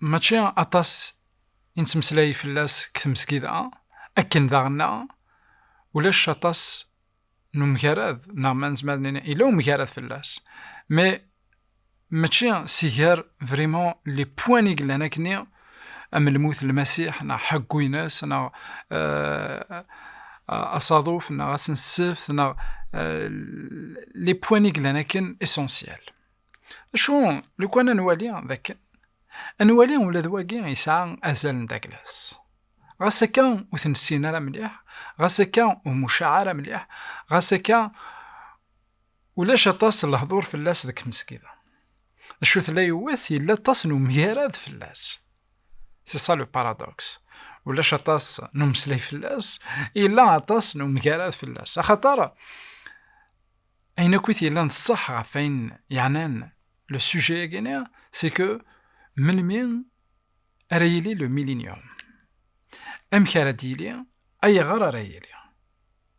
mačči aṭas i nettmeslay fell-as deg tmesgida, akken daɣen ulac aṭas n umgarad, neɣ ma nezmer ad nini yella umgarad fell-as, mais mačči si gar vraiment les points i yellan akkenni am lmut n Lmasiḥ neɣ ḥeggu-ines neɣ asaḍuf neɣ asenseft neɣ les points i yellan akken essentiels. Acu lukan ad nwali dakken ad nwali ula d wagi yesɛa azal n Douglas. Ɣas akka ur t-nessin ara mliḥ, ɣas akka ur mucaɛ ara mliḥ, ɣas akka ulac aṭas n lehdur fell-as deg tmesgida. Acu tella yiwet yella aṭas n umgarad fell-as. C'est ça le paradoxe. Ulac aṭas n umeslay fell-as, yella aṭas n umgarad fell-as. Axaṭer Ayen akk i t-yellan d ṣṣeḥ ɣef wayen yeɛnan le sujet-agi, c'est que melmi ara yili le millenium? Amek ara d-yili? Ayɣer ara yili?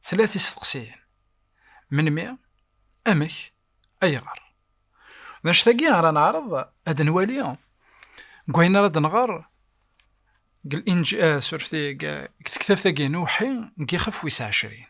Tella tisteqsiyin. Melmi? Amek? Ayɣer? D anect-agi ara neɛreḍ ad nwali deg wayen ara d-nɣer deg tektabt-agi n Uwḥi n yixef wis ɛecrin.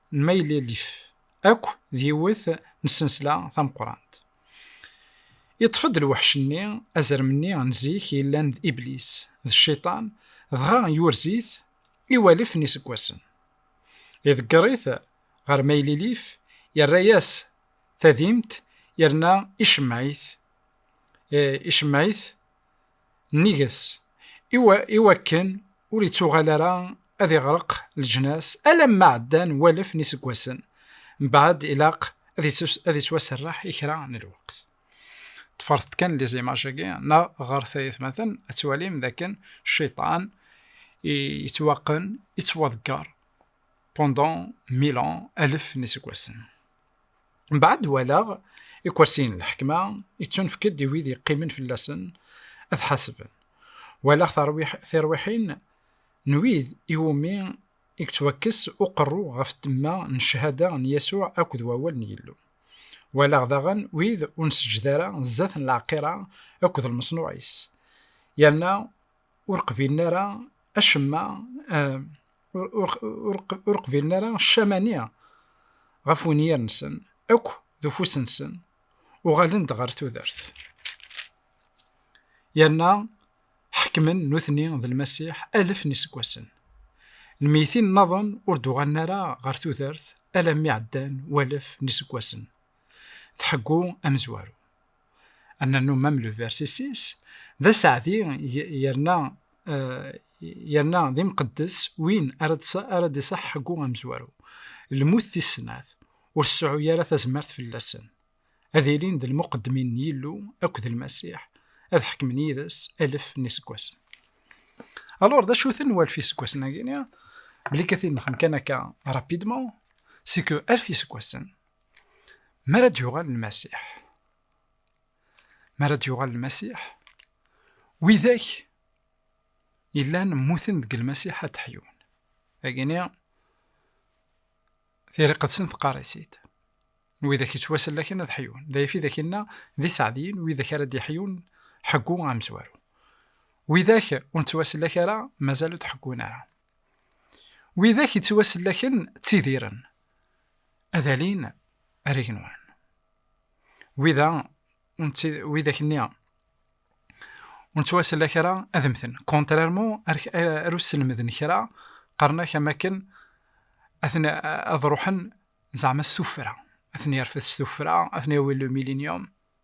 n maylilif akk d yiwet n tsensla tameqqrant. Iṭṭef-d lweḥc-nni azrem-nni n zik yellan d Iblis, d Cciṭan, dɣa yurez-it i walef n iseggasen. Iḍegger-it ɣer maylilif, yerra-yas tadimt yerna icemmeɛ-it, icemmeɛ-it Nnig-s, i wakken ur ittuɣal ara ad iɣreq leǧnas alamma ɛeddan walef n yiseggasen, mbeɛd ilaq ad ittwaserreḥ i kra n lweqt. Ṭṭfeṛt-d kan lizimaj-agi, neɣ ɣṛet ayetmaten, ad twalim d akken Cciṭan yettwaqqen, yettwaḍeggeṛ, pendant mille ans, alef n yiseggasen. mbaɛd walaɣ ikersiyen n lḥekma yettunefk-d i wid yeqqimen fell-asen ad ḥasben walaɣ tirwiḥin n wid iwumi i yettwakkes uqerru ɣef ddemma n ccahada n Yasuɛ akked wawal n Yillu. Walaɣ daɣen wid ur nseǧǧed ara zdat n lɛeqira akked lmeṣnuɛ-is, yerna ur qbilen ara acemma ur qbilen ara ccamani ɣef wenyir-nsen akk d ufus-nsen uɣalen-d ɣer tudert yerna ḥekmen nutni d lmasiḥ alef n iseggasen lmeytin nnaḍen ur d-uɣalen ara ɣer tudert alammi ɛeddan walef n iseggasen tḥeggu amezwaru ad nernu même le verset 6, d aseɛdi yerna yerna d imqeddes win ara ara d-iṣaḥ ḥeggu amezwaru. Lmut tis snat, ur tseɛɛu ara tazmert fell-asen. Ad ilin d lmuqeddmin n Yillu akked Lmasiḥ, ad ḥekmen yid-s alef n iseggasen. Alors d acu-ten walef iseggasen-agi? Belli katin nxem kan akka rapidement, c'est que alef iseggasen, Mi ara d-yuɣal Lmasiḥ. Mi ara d-yuɣal Lmasiḥ, widak yellan mmuten deg Lmasiḥ ad d-ḥyun. Agini, tira iqedsen teqqar-it-id. Widak yettwasellaken ad ḥyun. D ayf i d ak-inna, d iseɛdiyen widak ara d-iḥyun ḥeggu amezwaru. Widak ur nettwasellek ara mazal ur d-ḥeggun ara. Widak yettwasellaken ttidiren, ad alin ar igenwan. Wida, widak-nni ur nettwasellak ara ad mten. Kontrarmu ar usselmed n kra, qqaren-ak am akken ad ruḥen zeɛma s tuffra, ad ten-yerfed s tuffra, ad ten-yawi le milinium.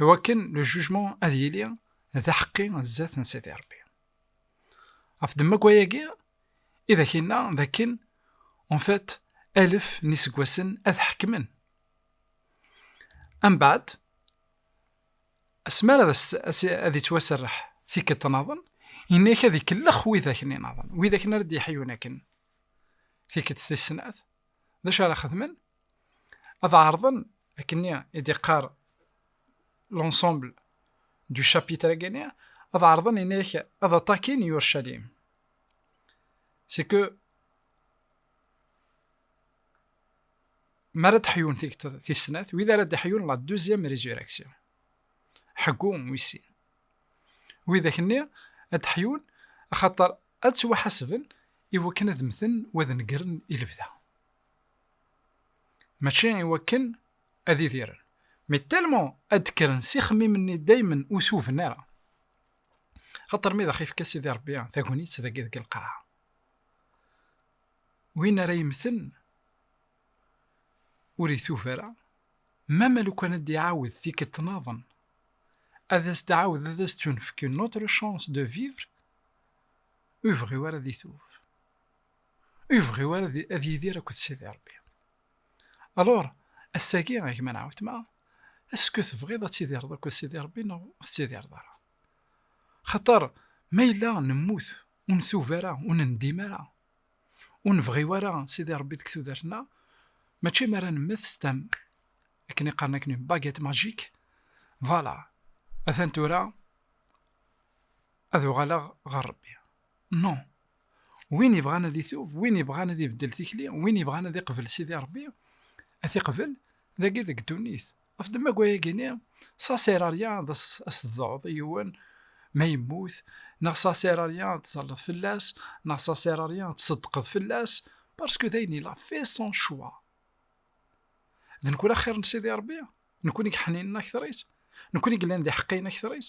i wakken le jugement ad yili d aḥeqqi zdat n Sidi Rebbi. Ɣef ddemma n wayagi i d ak-inna d akken en fait alef n iseggasen ad ḥekmen. Ambaɛd, asmi ara ad yettwaserreḥ tikkelt naḍen, yenna-ak ad ikellex wid akken inaḍen, wid akken ara d-yeḥyun akken tikkelt tis snat, d acu ara xedmen? ad ɛerḍen akken-nni i d-iqqar l'ensemble du chapitre agi-nni ad ɛerḍen ini-ak ad aṭakin Yurcalim c'est que mi ara d-ḥyun tigteḍ tis snat wid ara d-ḥyun la deuxième résurrection ḥeggu wis sin widak-nni ad d-ḥyun axaṭer ad ttwaḥasben i wakken ad mmten wa d negren i lebda Mačči i wakken ad idiren, mais tellement ad d-kkren s ixemmimen-nni daymen ur tuben ara. Xaṭer mi d aɣ-ifka Sidi Rebbi tagnit dagi deg lqaɛa, win ara yemmten ur itub ara, mama lukan ad d-iɛawed tikkelt naḍen, ad as-d-ɛawed ad as-d-tunefk une autre chance de vivre, ur yebɣi wara ad itub. Ur yebɣi ara ad yidir akked Sidi Ṛebbi. Alur, ass-agi, a gma neɣ weltma, esku tebɣiḍ ad tidireḍ akked Sidi Ṛebbi neɣ ur tettidireḍ ara? Xaṭer ma yella nemmut, ur ntub ara, ur nendim ara, ur nebɣi ara Sidi Ṛebbi deg tudert-nneɣ, mačči mi ara nemmet s tam, akken i qqaren akk-nni, baguette magique, vala, atan tura ad uɣaleɣ ɣer Ṛebbi. Non! Win ibɣan ad itub, win ibɣan ad ibeddel tikli, win ibɣan ad iqbel Sidi Rebbi, ad t-iqbel dagi deg ddunit. Ɣef ddemma wayagi-nni, Saserarya ad as-tḍeɛḍ i yiwen ma yemmut, neɣ Saserarya ad terreḍ fell-as, neɣ Saserarya ad tseddqeḍ fell-as, parce que dayen il a fait son choix. D nekkni ara xir n Sidi Rebbi? Nekkni i yeḥninen akteṛ-is? Nekkni i yellan d iḥeqqiyen akteṛ-is?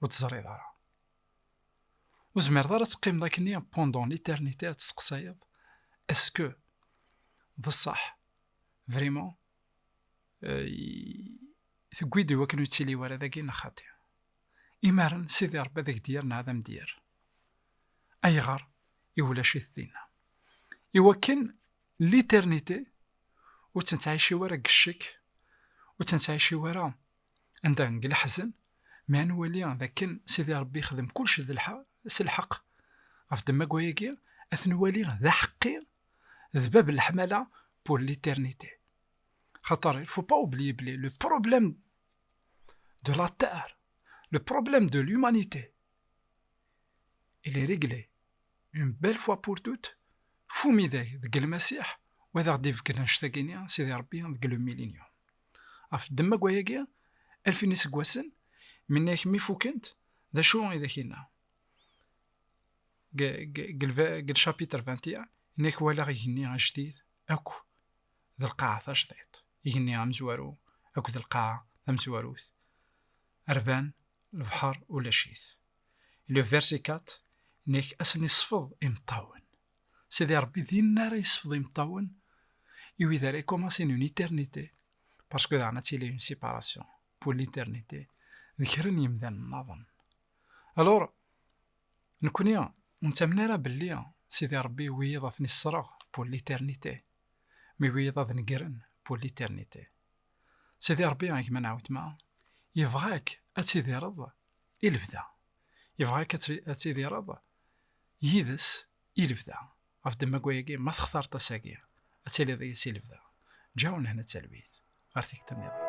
ur teẓriḍ ara. Ur zmireḍ ara ad teqqimeḍ akkenni pendant l'éternité ad tesseqsayeḍ est-ce que d ṣṣeḥ vraiment tewwi-d i wakken ur yettili wara dagi neɣ xaṭi. Imaren Sidi Rebbi ad ak-d-yerr neɣ ad am-d-yerr. Ayɣer i ulac-it dinna? I wakken l'éternité ur tt-nettɛici wara deg ccek, ur tt-nettɛici wara Anda deg leḥzen mi ara nwali d akken Sidi Ṛebbi yexdem kullec s lḥeqq ɣef ddemma n wayagi, ad t-nwali d aḥeqqi d bab n leḥmala pour l'éternité. Xaṭer il faut pas oublier belli le problème de la terre, le problème de l'humanité, il est réglé une belle fois pour toutes fu umidag deg Lmasiḥ, wa ad aɣ-d-ifk annect-agi-nni Sidi Ṛebbi deg le millénium. Ɣef ddemma n wayagi, alfin n yiseggasen minnek mi fukent, d acu i d ak-yenna? Deg lcapitr 21, yenna-ak walaɣ igenni ajdid akk d lqaɛa tajdiṭ, igenni amezwaru akk d lqaɛa tamezwarut, rban, lebḥer ulac-it. Le verset 4, yenna-ak ass-nni ṣfeḍ imeṭṭawen, Sidi Rebbi dinna ara yesfeḍ imeṭṭawen i wid ara ikumasin une éternité parce que daɣen ad tili une séparation pour l'éternité d kra n yemdanen naḍen alors nekkni ur nettamen ara belli Sidi Rebbi yuwi-yiḍ ad ten-issereɣ pour l'éternité mi yuwi-yiḍ ad negren pour l'éternité Sidi Rebbi a gma n Ɛutma yebɣa-k ad tidireḍ i lebda Yebɣa-k ad tidireḍ yid-s i lebda. Ɣef ddemma n wayagi, ma textareḍ ass-agi, ad tiliḍ yid-s i lebda. Ǧǧa-awen hna d talwit ɣer tikta nniḍen.